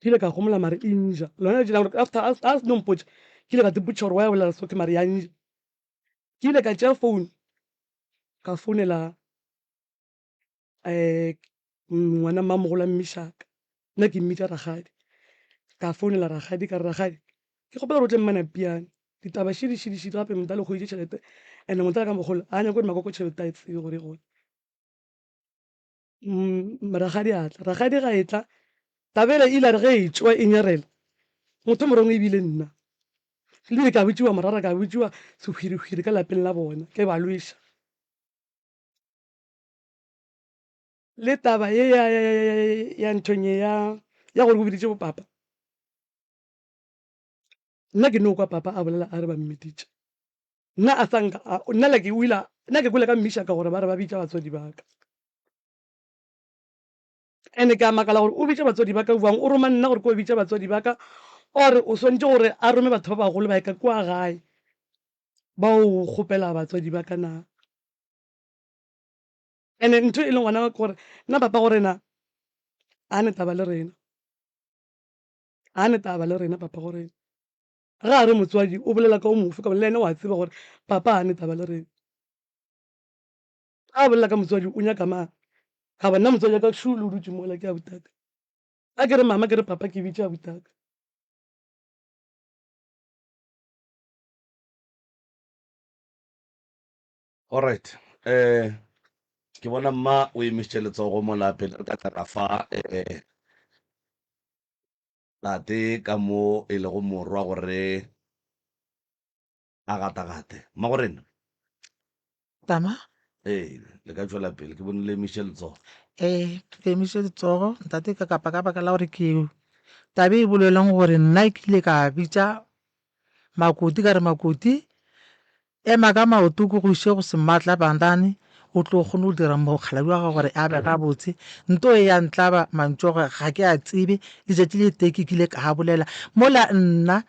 Ke ile ka gomola mare e nja. Lona letši la gore after a se no mpotša, ke ile ka tsepotša gore wa ya bolela soke mare ya nja. Ke ile ka tšea founu ka founela um ngwana mmamogolo a mmishaka, nna ke mmitša rakgadi. Ka founela rakgadi ka re, rakgadi ke kgopela gore o tle mmanapiane ditaba šidi šidi šidi gape motho a le kgoditše tšhelete and-e motho a le ka mogolo a nyako gore makoko tšhelete a e tsebe gore e gone. Mmm, rakgadi a tla. Rakgadi ga e tla, Tabela e ile a re ge e tšwa e nyarela, Motho morongwe e bile nna. Ebile ka botšiwa morara, ka botšiwa sehwirihwiri ka lapeng la bona, ke ba lweša. Le taba ye ya, ya, ya, ya, ya, ya nthong ye ya, ya gore o biditše bopapa, Nna ke no kwa Papa a bolela a re ba mmiditše. Nna a sa nka a, nna like o ile, nna ke kwele ka mmiša ka gore ba re ba bitša batswadi ba ka. Ene ke a makala gore o bitše batswadi ba ka bjang, o roma nna gore ke o bitše batswadi ba ka, or o swantše gore a rome batho ba bagolo ba ye ka kua gae ba o kgopela batswadi ba ka na. Ene ntho e leng gona ke gore nna Papa gore na a ne taba le rena. ga ne taba le rena papa gore ga a re motswadi o bolela ka o mofe ka le ene wa tseba gore papa ga ne taba le rena ga a bolela ka motswadi o nyaka mang ka bona motswadi ka shu le o dutse mola ke a butaka a ke re mama ke re papa ke bitša butaka Alright um ke bona mma o emisitše letsogo mo la pele re ka qala fa um tate ka mo e lego morwa gore a gatagate mma gore nna tama ee le ka tšwela pele ke bone le emisitše letsogo ee ke emisitše letsogo ntate ka kapa ka baka la gore ke tabe e bolelong gore nna ke ile ka bitša makoti ka re makoti Ema ka maoto o ke go iše go Sematla Bandane, o tlo kgone go dira mokgaladi wa gago gore a be gabotse. Nto e ya ntlaba mantšu a gore ga ke a tsebe. Letšatši le tee ke kile ka a bolela mola nna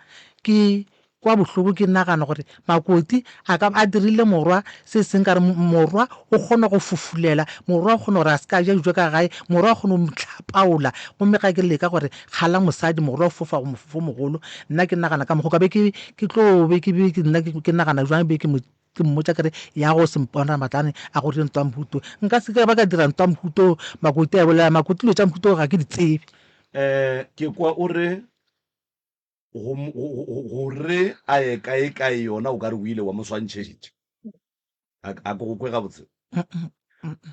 ke kwa bohloko ke nagana gore Makoti a ka ba a dirile morwa se seng ka re morwa o kgona go fofulela, morwa o kgona gore a se ka a ja dijo ka gae, morwa o kgona go mo hlapaola. Gomme ga ke leka gore Kgala mosadi mogolo wa go fofa go mofofo o mogolo nna ke nagana ka mokgo ka be ke ke tlo be ke be ke nna ke nagana jwang be ke mo ke mmotsa kere ya go sempona matlane a go re ntwa mhuto nka se ka ba ka dira ntwa mhuto makote a bolela makote dilo tša mhuto ga ke di tsebe eh ke kwa o re Go, go, go, go, go re a ye kae kae yona o ka re o ile wa mo swantšhetša. A, a ke go kwe gabotse?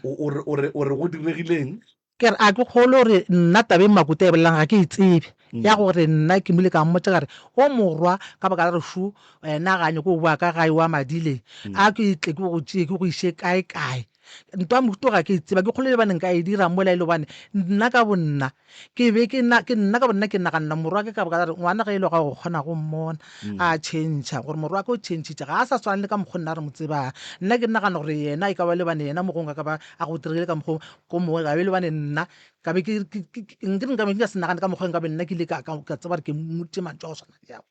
O, o, re, o, re, o re go diregileng? Ke re a ke kgole gore nna taba e Makuta e bolelang ga ke e tsebe, ya gore nna ke mo ile ka mmotša ka re o morwa ka baka la gore šo wena ga nyake go boa ka gae wa madileng, a ke tle ke go tšee ke go iše kae kae. ntwa mohuto ga ke e tseba ke kgolo le baneng ka e dira mola e le gobane nna ka bonna ke be ke nna ka bonna ke naganela morwa ke ka boka la re ngwana ge e le ga go kgona go mmona mm. a changea gore morwa ke o changitše ga a sa swana le ka mokgwa nna re mo tsebang nna ke nagana gore yena e ka ba le bane yena mogong a ka ba a go dirile ka mokgwa ko mongwe gabe le bane nna kabe ke nka be ke ka se nagane ka mokgwa nka be nna ke ile ka tseba gore ke motse mantso a go tshwana le yago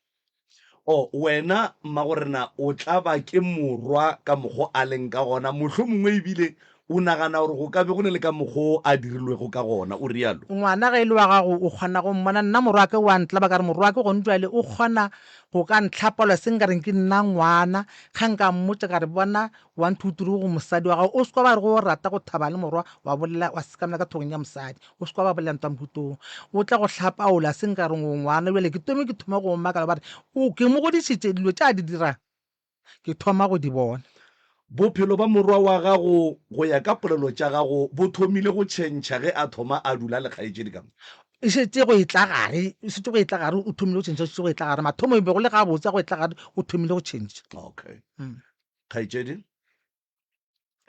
O, wena, mma, gore na o tla ba ke morwa ka mokgwa o a leng ka gona, mohlomongwe e bile o nagana gore go ka be go na le ka mokgwa o a dirilwego ka gona, o realo. Ngwana, ge e le wa gago, o kgona go mmona. Nna morwake o a ntlaba, ka re, Morwake, gone bjale o kgona go ka ntlhapolosa, e se nka reng ke nna ngwana. Ge nka mmotša ka re, Bona, One two three go mosadi wa gago o seka ba re go o rata go thaba le morwa wa bolela wa sekamela ka thogong ya mosadi o seka ba bolela ntwa mohutong o tla go hlapaola se nka reng o ngwana bjale ke tome ke thoma go makala ba re o ke mo godišitše dilo tša di dirang ke thoma go di bona Bophelo ba morwa wa gago go ya ka polelo tša gago bo thomile go tšhentšha ge a thoma a dula le kgaetšedi ka mo? E šetše go e tla gare e šetše go e tla gare o thomile go tšhentšha o šetše go e tla gare mathomo e be go le gabotse a go e tla gare o thomile go tšhentšha. Okay. kgaetšedi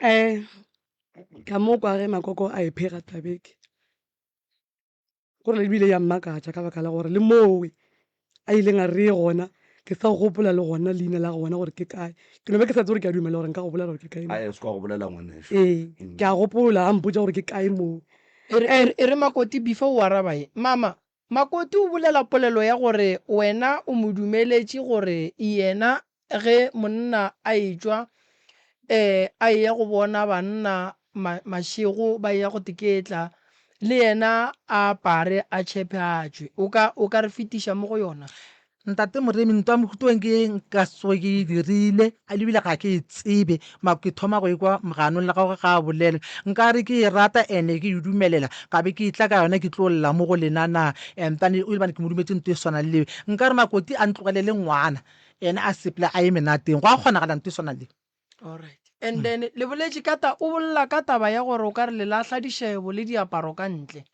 um ka mo kwa ge makoko a e phega tabeke gore ebile ya mmakatša ka baka la gore le mowe a ileng a re gona ke sa gopola le gona leina la gona gore ke kae ke no be ke sa tse gore ke a dumela gore nka go bolela gore ke kae a se kwa go bolela ngwaneso ee mm. ke a gopola a mpotsa gore ke kae mowe e re makoti before o araba ye mama Makoti o bolela polelo ya gore wena o mo dumeletše gore yena ge monna a etšwa ee a eya go bona banna mašego ba eya go teketla, le yena a apare a tšhephe a tšwe. O ka, o ka re fetiša mo go yona? Ntate Moremi, ntwa mohuto eng ke eng ka tsoge ke e dirile, a lebile ga ke e tsebe, mako ke thoma go ekwa moganong le gagwe ga a bolelwe. Nka re ke e rata and-e ke e dumelela, ka be ke e tla ka yona ke tlo lla mo go lena na? And then o ile bane ke mo dumetše nto e swana le ye. Nka re Makoti a ntlogelele ngwana ene a seple a ye menateng, gwa kgonagala nto e swana le ye? Alright. And hmm. then le boletše ka ta o bolela ka taba ya gore o ka re le lahla dishebo le diaparo ka ntle.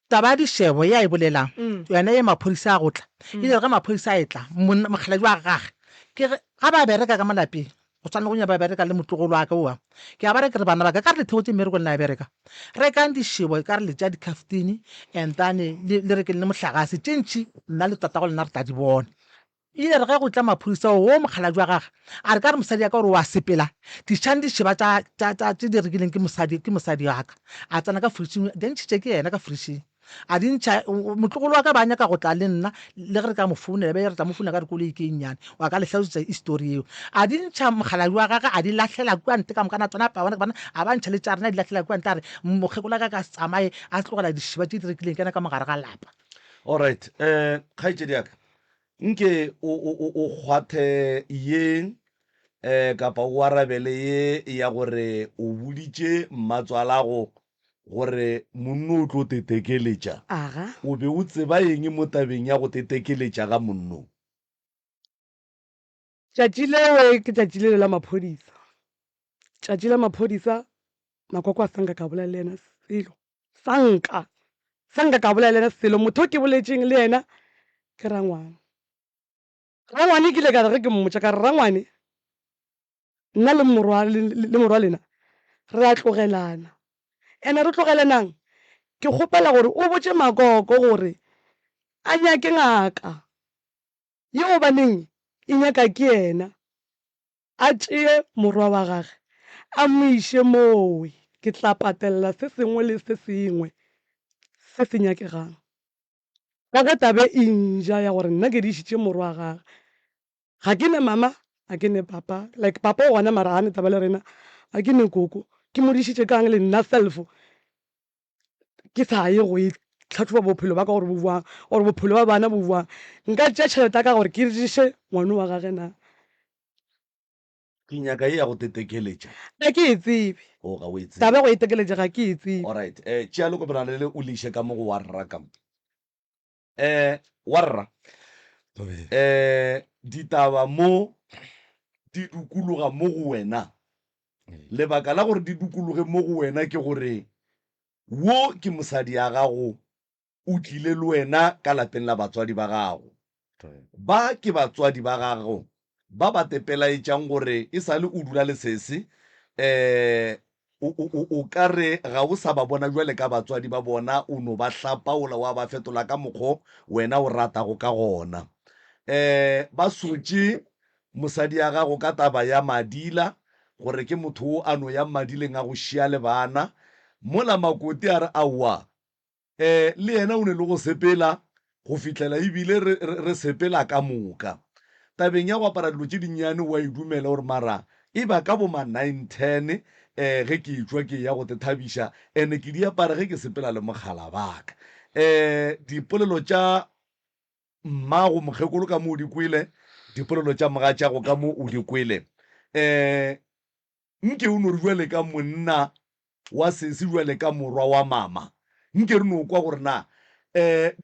Taba ya dishebo ya e bolelang hmm. yona ye maphodisa a go tla hmm. ile re maphodisa a e tla mokgaladi wa gage ke re ga ba bereka ka malapeng go tshwana go nya ba bereka le motlogolo wa ka oa ke a ba re ke re bana ba ka ka re lethego tse mmereko le na bereka re kang dishebo ka re le tša dicaftini and then le re ke le mohlagase tše ntšhi nna le tatago lena re tla di bona E ile ya re ge go tla maphodisa woo mokgalabje wa gage a re ka re mosadi ya ka gore o a sepela dišang di šeba tša tša tša tše di rekileng ke mosadi ke mosadi wa ka a tsena ka fridšing di ntšhitše ke yena ka fridšing a di ntšha motlogolo wa ka ba nyaka go tla le nna le ge re ka mo founela be re tla mo founela ka re koloi ke nnyane wa ka le hlalosetsa histori yeo a di ntšha mokgalabje wa gage a di lahlela kua nte ka mokana tsona paone bana a ba ntšha le tša rena di lahlela kua nte a re mokgekola ka ka se tsamaye a tlogela dišiba tše di rekileng kena ka mogare ga lapa Alright um kgaetšedi ya ka Nke o, o, o, o kgwathe ye e, kapa o arabele ye ya gore o boditše mmatswalago gore monno o tlo tetekeletša. Aga. O be o tseba eng mo tabeng ya go tetekeletša ga monno? Tšatši lewe ke tšatši lele la maphodisa. Tšatši la maphodisa Makwakwa a sanka ka bolela le yena selo. Sanka! Sanka ka bolela le yena selo. Motho o ke boletšeng le yena ke Rangwane. Rangwane ke ile ka re ge ke mmotša ka re, Rangwane, nna le morwa le morwa lena re a tlogelana. Ene re tlogelanang? Ke kgopela gore o botše Makoko gore a nyake ngaka. Ye o baneng e nyaka ke yena a tšee morwa wa gage a mo iše mooe ke tla patelela se sengwe le se sengwe se se nyakegang. Ka ge tabe e nja ya gore nna ke dišitše morwa gage, ga ke ne mama, ga ke ne papa, like papa o gona mara ga ne taba le rena, ga ke ne koko, ke mo dišitše ka'ng le nna self ke sa ye go e tlhatlhoba bophelo ba ka gore bo boang gore bophelo ba bana bo boang nka tšea tšhelete ya ka gore ke regiše ngwane wa gage na ke nyaka ye ya go tetekeletša ga ke e tsebe o ga o e tsebe taba go e tekeletša ga ke e tsebe alright um tšea lekopelana le le o le iše ka mo go wa rrakam Eh, warra. Eh, ditaba mo di dukuluga mo go wena. Lebaka la gore di dukuluge mo go wena ke gore wo ke mosadi ya gago, o tlile le wena ka lapeng la batswadi ba gago. Ba ke batswadi ba gago ba ba te pelaetšang gore e sa le o dula le sese, um o, o, o, o ka re ga o sa ba bona bjale ka batswadi ba bona, o no ba hlapaola wa ba fetola ka mokgo wena o ratago ka gona. Um ba sotše mosadi ya gago ka taba ya madila, gore ke motho o a no yang madileng a go šia le bana. Mola Makoti a re, Aowa, Le yena o ne le go sepela go fihlela e bile re, re, re sepela ka moka. Tabeng ya go apara dilo tše dinnyane o a e dumela gore mara e ba ka bo ma nine ten um ge ke etšwa ke eya go te thabiša and ke di apara ge ke sepela le mogala ba ka. Um dipolelo tša mmago mokgekolo ka mo o di kwele, dipolelo tša mogatšago ka mo o di kwele. Um Nke o no re bjale ka monna wa sesi, bjale ka morwa wa mama, nke re no kwa gore na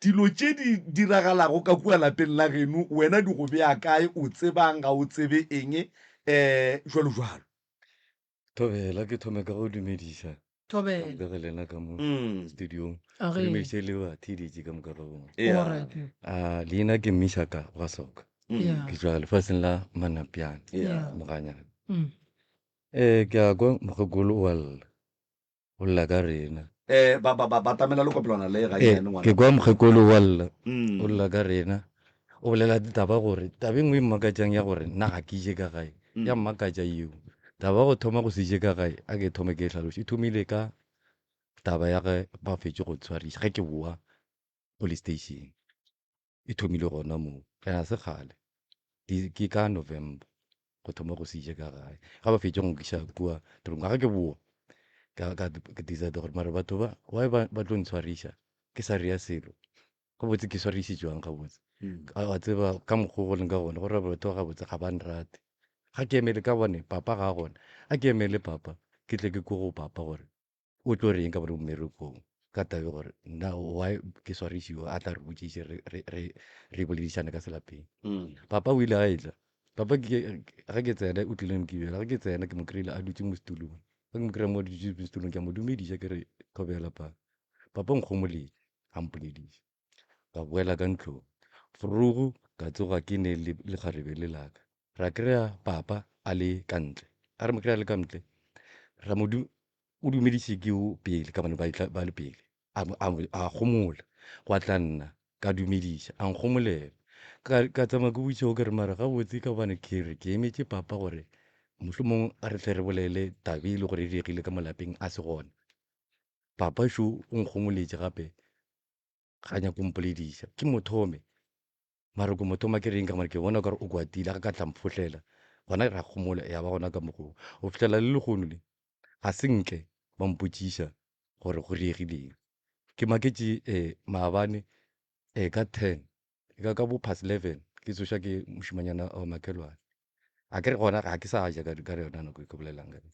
dilo tše di diragalago ka kua lapeng la geno wena di go bea kae, o tseba'ng, ga o tsebe eng, bjalo bjalo. Thobela, ke thome ka go dumediša. thobela le re lena ka mo Mm. studiong a re re meše le ba thiditše ka moka ga bona Yeah. alright a leina ke mishaka wa soka Mm. yeah ke tswa lefatsheng la manapiana Yeah. moganyana mm. um ke a kwa mokgekolo o a lla o lla ka rena Eh, ba- ba- ba- batamela le kopelwana le ga Eh, yena ngwana. ke kwa mokgekolo o a lla Mm. o lla ka rena O bolela taba gore taba e nngwe e mmakatšang ya gore nna ga ke je ka gae ya mmakatša yeo. Taba ya go thoma go se je ka gae a ke thome ke e hlaloše e thomile ka taba ya ge ba fetše go ntshwariša ge ke bowa police station. E thomile gona moo and ga se kgale ke ka November go thoma go se je ka gae ga ba fetše go nkiša kua toropong ga ke bowa ka decide gore mare batho ba why ba tlo ntshwariša ke sa rea selo gabotse ke swarišitšwang gabotse a tseba ka mokgwa go leng ka gone gore batho ba gabotse ga ba nrate ga ke emele ka bone papa ga gona a ke emele papa ke tle ke ko go papa gore o tlo reng ka bone mmerekong ka tabe gore na why ke swarišiwa a tla re botšiše re boledišane ka selapeng mm. papa o ile a etla papa ga ke tsena o tlileng kebela ga ke tsena ke mo kry-ile a dutse mo setulong ga ke mo kry-a mo dutse mo setulong ke a mo dumediša ke re thobela papa papa nkgomoledi a mpolediša. Ka boela ka ntlong. Vroeg ka tsoga ke ne le lekgarebe le laka. Ra kry-a papa a le ka ntle. A re mo kry-a le ka ntle, ra mo du, o dumediše ke o pele ka bane ba, itla, ba le pele. A, a, a gomola. Gwa tla nna. Ka dumediša. A nkgomolela. Ka, ka tsamaya ke botšiša o ke re, mara gabotse ka gobane ke re ke emetše papa gore mohlomong a re hle re bolele taba e le gore e diregile ka mo lapeng a se gona. Papa šo o nkgongoletše gape, ga nyake go mpolediša. Ke mo thome, mara ko mo thoma ke reng ka gobane ke bona o ka re o kwatile, a re ka tla mphohlela. Gona ra kgomola, ya ba gona ka mokgwa wo. Go fihlela le lehono le, ga se nke ba mpotšiša gore go diregileng. Ke maketše um maabane um ka ten, e ka ka bo past eleven ke tsošwa ke mošemanyana wa makhelwane. Akere gona ga ke sa ja ka ka yona nako e ke bolelang ka yona.